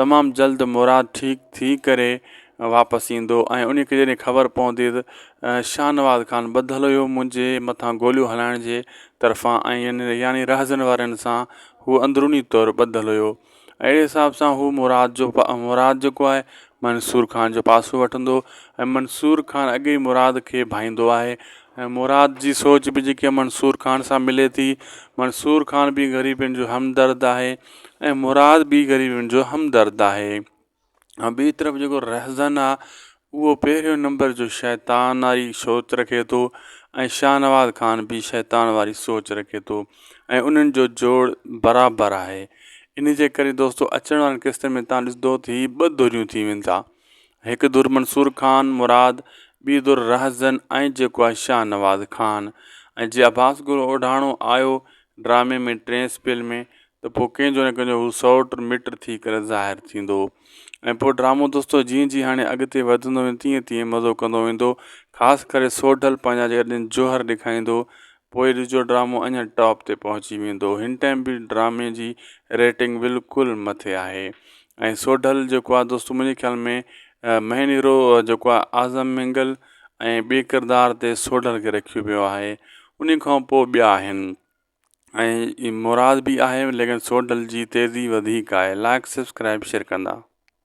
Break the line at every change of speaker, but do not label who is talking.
تمام جلد مراد ٺيڪ ٿي ڪري واپس ايندو ۽ انهي کي جڏهن خبر پوندي ته شاهنواز خان ٻڌل هيو منهنجي مٿان گوليون هلائڻ جي طرفان ۽ يعني رهزن وارن سان هو اندروني طور ٻڌل هيو اهڙي حساب سان هو مراد جو مراد جيڪو آهي منصور خان جو پاسو وٺندو ۽ منصور خان اڳي ئي مراد کي ڀائيندو آهي ۽ مراد جي سوچ به جيڪي منصور خان سان ملي ٿي منصور خان به غريبن جو همدرد آهي ۽ مراد ٻي غريبن جو همدرد آهي ۽ ٻي طرف جيڪو رهزن آ اهو پهريون نمبر جو شيطان واري سوچ رکي ٿو ۽ شاهنواز خان به شيطان واري سوچ رکي ٿو ۽ انهن جو جوڙ برابر آهي ان جي ڪري دوستو اچڻ وارن قسطن ۾ تان ڏسندو ته هي ٻه ڌريون ٿي وين ٿا هڪ ڌر منصور خان مراد ٻي ڌر رهزن ۽ جيڪو آهي شاهنواز خان ۽ جي عباس گل اوڍاڻو آيو ڊرامي ۾ ٽئين سپيل ۾ ته پوء ڪنهن جو نه ڪنهن جو هو سئوٽ مٽ ٿي ڪري ظاهر ٿيندو هو ۽ پوء ڊرامو دوستو جيئن جيئن هاڻي اڳتي وڌندو ويندو تيئن تيئن مزو ڪندو ويندو خاص ڪري سوڍل پنهنجا جيڪڏهن جوهر ڏيکاريندو پوء ڏسجو ڊرامو اڃا ٽاپ تي پهچي ويندو هن ٽائيم به ڊرامي جي ريٽنگ بلڪل مٿي آهي ۽ سوڍل جيڪو آهي دوستو منهنجي خيال ۾ مهين هيرو جيڪو آهي اعظم مينگل ۽ ٻي ڪردار تي سوڍل کي رکيو ويو آهي انهي کان پوء ٻيا آهن ۽ مراد به آهي ليڪن سوڍل جي تيزي وڌيڪ آهي لائڪ سبسڪرائب شيئر ڪندا.